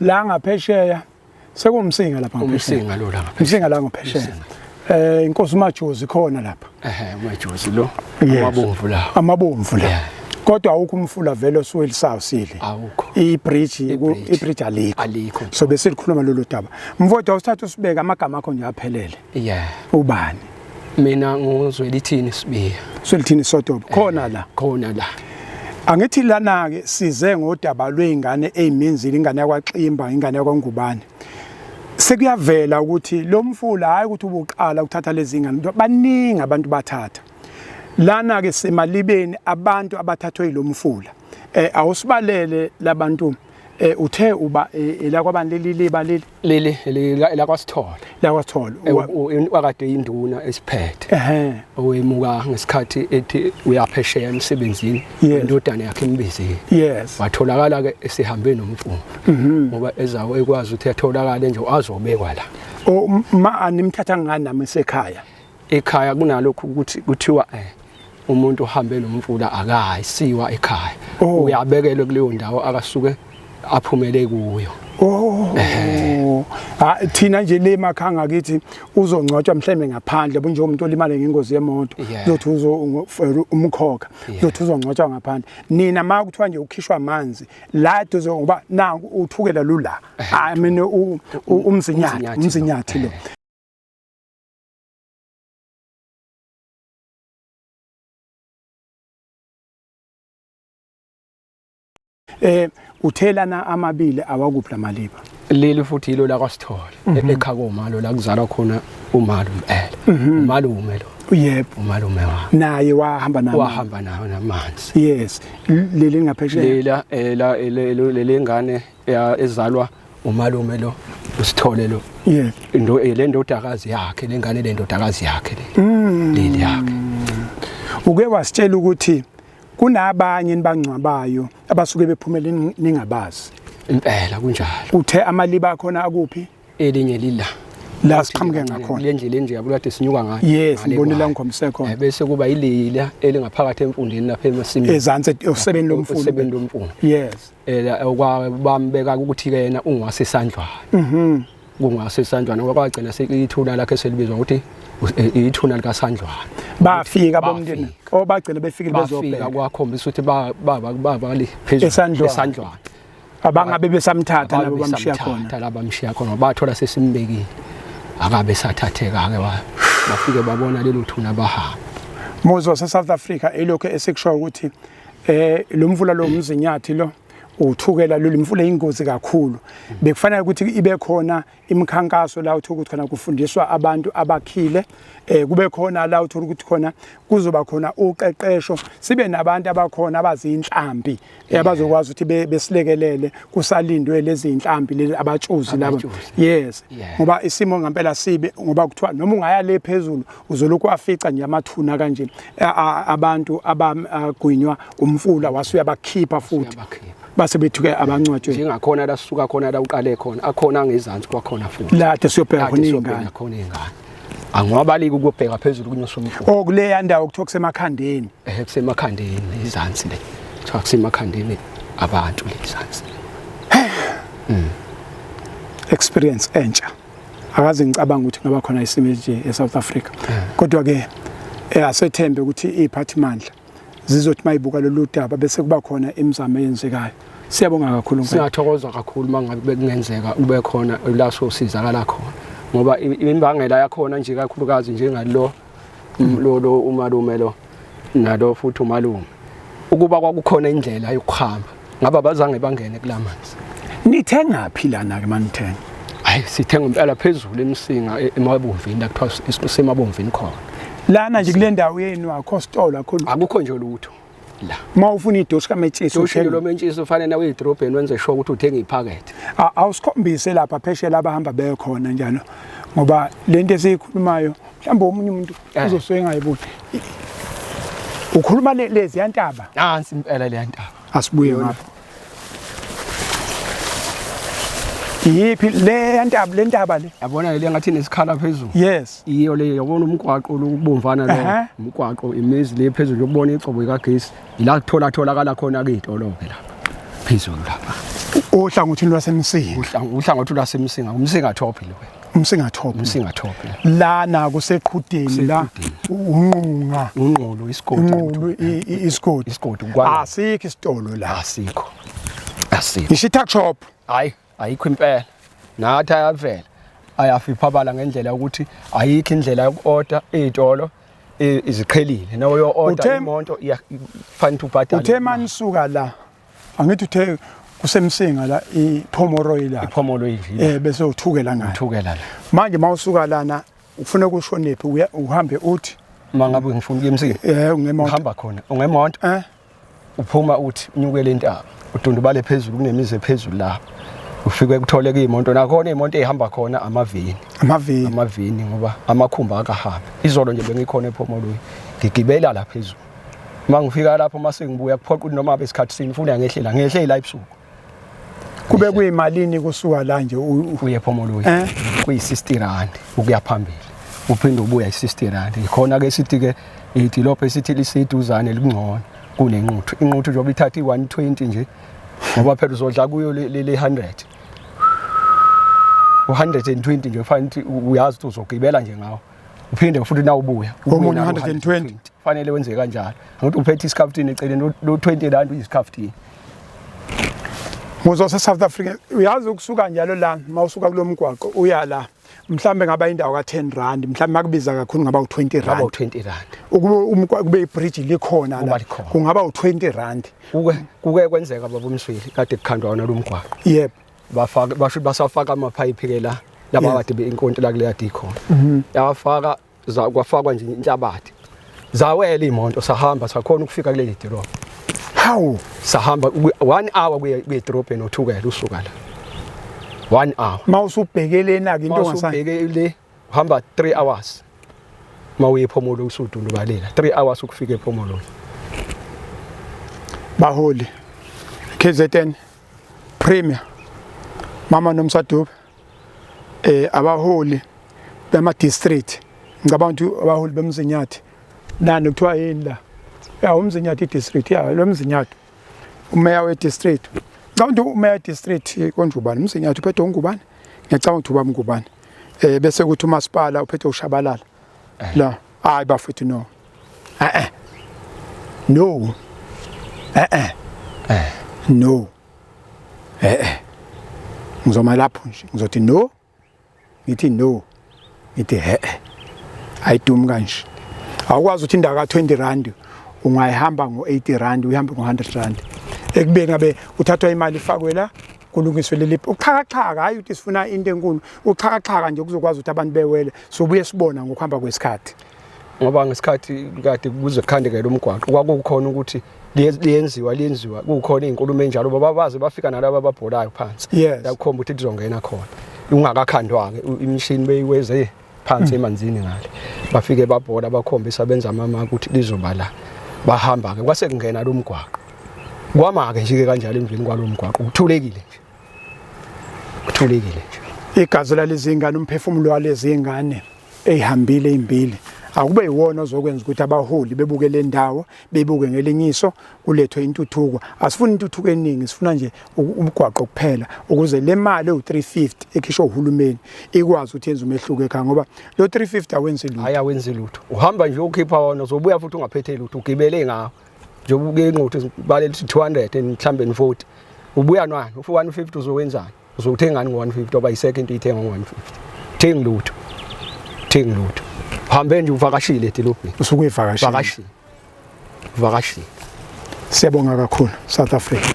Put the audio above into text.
la ngaphesheya sekumsinga lapha umsinga lo la umsinga la ngaphesheya eh inkosi umajozi khona lapha ehe umajozi lo amabomvu la amabomvu la kodwa awukho umfula vele osuweli sawusile awukho ibridge ibridge alikho alikho so besilikhuluma lolu daba mfowethu awusithatha usibeke amagama akho nje aphelele yeah ubani mina nguzwelithini sibiya swelithini sotobo khona eh, la khona la angithi lana ke size ngodaba lweingane eziminzile ingane yakwaXimba ingane yakwangubane sekuyavela ukuthi lo mfula hayi ukuthi ubuqala ukuthatha lezi ngane baningi abantu bathatha lana ke semalibeni abantu abathathwe ilomfula eh awusibalele labantu eh uthe uba eh, elakwabantu leli liba leli leli lakwasithole lakwasithole wakade induna esiphethe ehe owemuka ngesikhathi ethi uyaphesheya emsebenzini indodana yakhe imbizile yes watholakala ke esihambe nomfundo mhm. ngoba ezawo ekwazi ukuthi atholakale nje azobekwa la o ma animthatha ngani nami sekhaya ekhaya kunalokhu ukuthi kuthiwa eh umuntu uhambe nomfula akayi siwa ekhaya oh. uyabekelwe kuleyo ndawo akasuke aphumele kuyo oh eh. ah thina nje le makhanga kithi uzongcwatshwa mhlembe ngaphandle bunje umuntu olimale ngengozi yemoto uzothi uzo umkhokha uzothi uzongcwatshwa ngaphandle nina ma kuthiwa nje ukhishwa amanzi la duze ngoba na uthukela lula eh. i mean umzinyathi umzinyathi lo eh. eh uthelana amabili awakuphi lamaliba leli futhi yilo la kwaSithole mhm. e-, ekhakoma lo la kuzalwa khona umalu impela mhm. umalume lo yebo umalume wa naye wahamba nawo wahamba nawo namanzi yes leli ngaphesheya lela ela leli ngane ya ezalwa umalume lo usithole lo yeah into eh, le ndodakazi yakhe lengane le ndodakazi yakhe le mm. leli yakhe uke wasitshela ukuthi kunabanye nibangcwabayo abasuke bephumele ningabazi impela kunjalo uthe amaliba akhona akuphi elinye lila la siqhamuke ngakhona le ndlela enje abulade sinyuka ngayo yes ngibonela ngomse khona eh, bese kuba ilila elingaphakathi emfundeni lapha emasimini ezansi osebeni lomfundi osebeni lomfundi yes ela okwa bambeka ukuthi ke yena ungwase isandlwana mhm kungase isandlwana ngoba kwagcina sekuyithuna lakhe selibizwa ukuthi eh, ithuna lika sandlwana bafika bomndeni obagcina befikile bezobheka bafika kwakhombisa ukuthi ba baba baba le phezulu esandlwana abangabe besamthatha labo bamshiya khona labo bamshiya khona bathola sesimbekile akabe sathatheka ke bafike babona lelo thuna bahamba Moses waseSouth Africa elokho esekusho ukuthi eh lo mfula lo mzinyathi lo uthukela lolu mfula ingozi kakhulu bekufanele ukuthi ibe khona imikhankaso la uthola ukuthi khona kufundiswa abantu abakhile eh kube khona la uthola ukuthi khona kuzoba khona uqeqesho sibe nabantu abakhona abazinhlambi eh, abazokwazi ukuthi besilekelele kusalindwe lezi inhlambi lezi abatshuzi laba yes ngoba isimo ngempela sibe ngoba kuthiwa noma ungaya le phezulu uzolokhu afica nje amathuna kanje abantu abagwinywa umfula wase uyabakhipha futhi base bethuke abancwatshwe njengakhona la suka khona la uqale khona akhona ngezansi kwakhona futhi la de siyobheka khona ingane khona ingane angiwabaliki ukubheka phezulu kunyoswa umfula oh kuleya ndawo kuthiwa kusemakhandeni eh kusemakhandeni izansi le kuthiwa kusemakhandeni abantu lezansi hmm. experience entsha akaze ngicabanga ukuthi ngaba khona isimo nje eSouth Africa kodwa ke eh, asethembe ukuthi iphathimandla zizothi mayibuka lolu daba bese kuba khona imizamo eyenzekayo siyabonga kakhulu siyathokoza kakhulu mangabe bekungenzeka ube khona laso sizakala khona ngoba imimbangela yakhona nje kakhulukazi njengalo Mm, lo lo umalume lo nalo futhi umalume ukuba kwakukhona indlela yokuhamba ngaba bazange bangene kulamanzi nithenga phi lana ke manithenga hayi sithenga impela phezulu emsinga e- emabomvini la kuthiwa sisemabomvini khona lana nje kule ndawo yenu akho stolo akho lutho. akukho nje lutho la uma ufuna idoshi kametshisi ushilo lomentshisi ufanele nawe idrobheni wenze sho ukuthi uthenga iphakethe awusikhombise lapha pheshe laba hamba bekhona njalo ngoba lento esiyikhulumayo mhlawumbe omunye umuntu eh. uzosuke engayiboni ukhuluma lezi yantaba nansi impela le yantaba asibuye ngapha yiphi le yantaba le ntaba le yabona le ngathi nesikhala phezulu yes iyo le yabona umgwaqo lokubomvana lo umgwaqo imizi le phezulu yokubona igcobo ikagesi ila kuthola tholakala khona ke idolobhe la phezulu lapha ohlangothini lwasemsinga uhlangothi lwasemsinga umsinga top lo umsingathophe umsingathophe lana kuseqhudeni la unqunga unqulu isigodi unqulu isigodi isigodi kwala asikho isitolo la asikho asikho ishi tuck shop hayi ayikho impela nathi ayavela ayafiphabala ngendlela yokuthi ayikho indlela yokuorder ezitolo iziqhelile nawo yo order imonto iyafanele ubhadale uthe manisuka la angithi uthe kusemsinga la iphomoroyi la iphomoroyi nje eh bese uthukela ngani uthukela la manje mawusuka lana ufuna ukushonephi uhambe uthi mangabe ngifuna ukuya emsini eh ungemonto uhamba khona ungemonto eh uphuma uthi unyukele intaba udundubale phezulu kunemizi ephezulu la ufike kuthole kuyimoto nakhona imoto ehamba khona amavini amavini amavini ngoba amakhumba akahambi izolo nje bengikhona ephomoloyi ngigibela la phezulu uma ngifika lapho uma sengibuya kuphoqa ukuthi noma besikhathi sini funa ngehlela ngehlela ebusuku kube kuyimalini kusuka la nje uye phomoluyi eh? kuyi-60 rand ukuya phambili uphinde ubuya i-60 rand yikhona ke sithi ke idilopho esithi liseduzane likungcono kunenquthu inquthu njengoba ithatha i-120 nje ngoba phela uzodla kuyo le 100 u-120 nje kufanele ukuthi uyazi ukuthi uzogibela nje ngawo uphinde futhi na ubuya komunye 120 fanele wenze kanjalo ngokuthi uphethe isikhaftini eceleni lo 20 rand uyisikhaftini Muzo se South Africa uyazi ukusuka njalo la mawusuka kulomgwaqo uya la mhlambe ngaba indawo ka 10 rand mhlambe makubiza kakhulu ngaba u 20 rand ngaba u 20 rand ukube kube i bridge likhona la kungaba u 20 rand kuke kuke kwenzeka baba umsweli kade kukhandwa wona lomgwaqo yebo bafaka basho basafaka ama pipe ke la laba Yes. kade inkonto la kuleya dikho Mhm. yafaka za- kwafakwa nje inhlabathi zawela imonto sahamba sakhona ukufika kuleli dolobha Hawu. sahamba kwi- one hour kuye kuye dolobheni othukela usuka la one hour Mawusubhekelena ke intombazane. mawusubheke le uhamba 3 hours mawuye ephomolo usudundubalela 3 hours ukufika ephomolo baholi KZN Premier mama nomsadube eh abaholi bema district ngicabanga ukuthi abaholi bemzinyathi nani kuthiwa yini la ya umzinyathi district ya lo mzinyathi umeya we-district ngicabanga ukuthi umeya we-district konjubane umzinyathi uphethe ungubane ngiyacabanga ukuthi ubaba ungubane um eh, bese kuthi umasipala uphethe ushabalala eh. la hayi bafethu no e-e no e-e no e-e ngizoma lapho nje ngizothi no ngithi no ngithi he ayidumi kanje awukwazi ukuthi indawo ka-20 rand ungayihamba ngo-80 rand uyihambe ngo-100 rand ekubeni abe uthathwa imali ifakwe la kulungiswe leli uxhakaxhaka hhayi ukuthi sifuna into enkulu uxhakaxhaka nje kuzokwazi ukuthi abantu bewele sobuye sibona ngokuhamba kwesikhathi ngoba ngesikhathi kade kuze kukhandekele umgwaqo kwakukhona ukuthi liyenziwa liyenziwa kukhona izinkulumo enjalo baba baze bafika nalabo ababholayo phansi yes yakhomba ukuthi lizongena khona ungakakhandwa ke imishini beyiweze phansi mm. emanzini ngale bafike babhola bakhombisa benza mama ukuthi lizoba la bahamba ke kwase kungena lo mgwaqo kwama ke nje ke kanjalo emveni kwalo mgwaqo kuthulekile nje kuthulekile nje igazi lalezingane umphefumulo walezingane eyihambile imbili akube yiwona ozokwenza ukuthi abaholi bebuke le ndawo bebuke ngelinye iso kulethwe intuthuko asifuni intuthuko eningi sifuna nje ubugwaqo kuphela ukuze le mali ewu-350 ekhishwa uhulumeni ikwazi ukuthi yenze umehluko ekhaya ngoba lo 350 awenzi lutho hayi awenzi lutho uhamba nje ukhipha wona uzobuya futhi ungaphethe lutho ugibele ngawo njengoba uke ingqothi baleli 200 mhlambe 40 ubuya nani ufu 150 uzowenzani uzothengani ngo-150 oba isekho into iyithenga ngo-150 thengi lutho thengi lutho uhambe nje uvakashile edilobheni usuke uyivakashile vakashile vakashile siyabonga kakhulu south africa